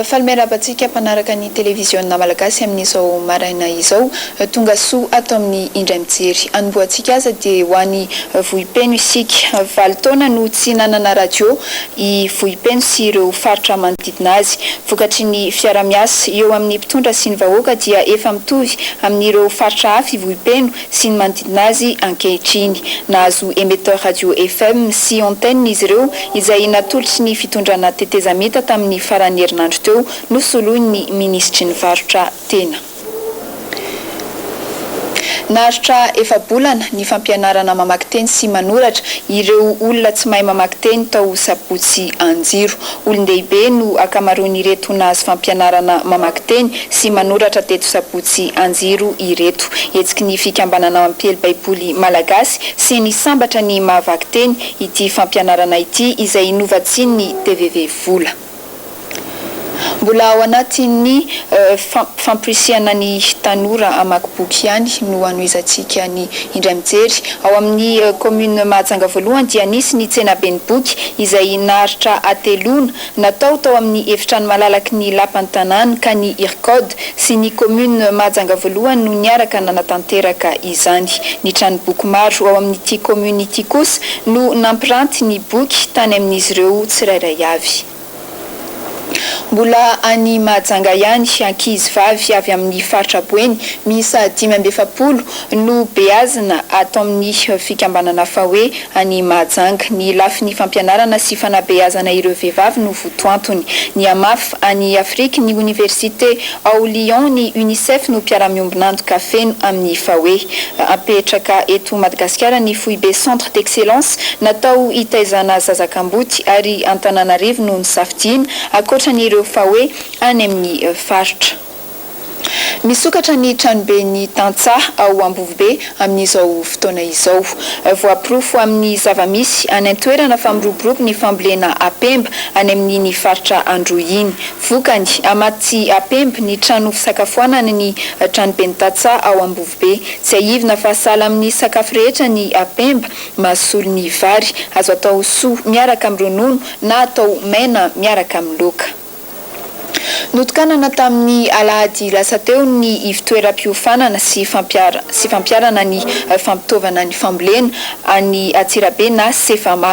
Faly miarahaba antsika mpanaraka ny televiziona malagasy amin'izao maraina izao. Tonga soa ato amin'ny indray mijery. Hanombohantsika aza dia ho any Vohipeno isika. Valo taona no tsy nanana radio i Vohipeno sy ireo faritra manodidina azy. Vokatry ny fiara-miasa eo amin'ny mpitondra sy ny vahoaka dia efa mitovy amin'ireo faritra hafa i Vohipeno sy ny manodidina azy ankehitriny. Nahazo émetteur radio FM sy antenne izy ireo izay natolotry ny fitondrana tetezamita tamin'ny faran'ny herinandro teo, nosoloin'ny minisitry ny varotra tena. Naharitra efa-bolana ny fampianarana mamaky teny sy manoratra ireo olona tsy mahay mamaky teny tao Sabotsy Anjiro. Olon-dehibe no ankamaroan'ireto nahazo fampianarana mamaky teny sy manoratra teto Sabotsy Anjiro ireto. Hetsiky ny Fikambanana Mampiely Baiboly Malagasy sy ny Sambatra ny maha vaky teny ity fampianarana ity izay novatsian'ny tvv Vola. Mbola ao anatin'ny fampirisihana ny tanora hamaky boky ihany no hanohizantsika ny indray mijery. Ao amin'ny kaominina Mahajanga voalohany dia nisy ny tsenaben'ny boky izay naharitra hateloana, natao tao amin'ny efitrano malalaky ny lapan'ny tanàna ka ny Ircod sy ny Commune Mahajanga voalohany no niaraka nanatanteraka izany. Ny tranomboky maro ao amin'ity Commune ity kosa no nampiranty ny boky tany amin'izy ireo tsirairay avy. Mbola any Mahajanga ihany, ankizy vavy avy amin'ny faritra Boeny miisa dimy amby efapolo Nobeazina ato amin'ny fikambanana Fawe any Mahajanga. Ny lafiny fampianarana sy fanabeazana ireo vehivavy no votoantony. Nihamafy an'i Afrique ny Oniversite ao Lyon ny Unicef no mpiara-miombon'antoka feno amin'ny Fawe. Apetraka eto Madagasikara ny foibe Centre d'excellence natao hitaizana zaza kamboty ary Antananarivo no nisafidiana, ankoatran'ireo Fawe any amin'ny faritra. Misokatra ny tranoben'ny tantsaha ao Ambovobe amin'izao fotoana izao. Voaporofo amin'ny zava-misy any an-toerana fa miroborobo ny fambolena apemba any amin'iny faritra Androy iny. Vokany, hamaty tsy apemba ny trano fisakafoanana ny tranoben'ny tantsaha ao Ambovobe. Tsiahivina fa sahala amin'ny sakafo rehetra ny apemba, mahasolo ny vary. Azo atao soa miaraka amin'ny ronono na atao maina miaraka amin'ny laoka. Notokanana tamin'ny alahady lasa teo ny ivontoeram-piofanana sy sy fampiharana ny fampitaovana ny fambolena any Antsirabe na Cefama.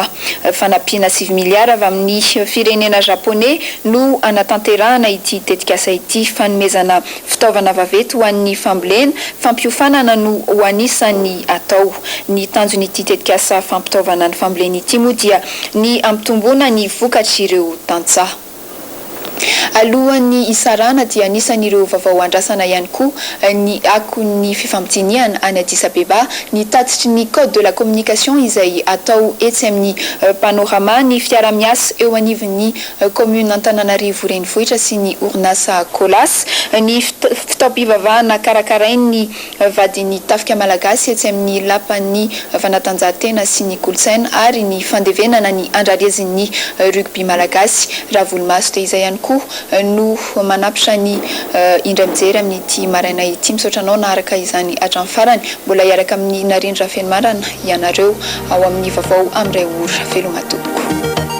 Fanampiana sivy miliara avy amin'ny firenena Japoney no hanatanterahana ity tetikasa ity. Fanomezana fitaovana vaventy ho an'ny fambolena, fampiofanana no ho anisan'ny atao. Ny tanjon'ity tetikasa fampitaovana ny fambolena ity moa dia ny hampitomboana ny vokatr'ireo tantsaha. Alohan'ny hisarahana dia anisan'ireo vavao andrasana ihany koa ny akon'ny fifampidinihana any Addis Abeba, ny tatitry ny Code de la communication izay atao etsy amin'ny Panorama, ny fiaraha-miasa eo anivon'ny Kaominina Antananarivo Renivohitra sy ny orinasa Colas, ny fitaom-pivavahana karakarain'ny vadin'ny tafika malagasy etsy amin'ny lapan'ny fanatanjahantena sy ny kolontsaina ary ny fandevenana ny andrarezin'ny rugby malagasy, Ravolomaso dia izay ihany koa no manapitra ny indray mijery amin'ity maraina ity. Misaotra anao naharaka izany hatramin'ny farany. Mbola hiaraka amin'i Narendra Rafenomarana ianareo ao amin'ny vaovao amin'ny iray ora. Veloma tompoko.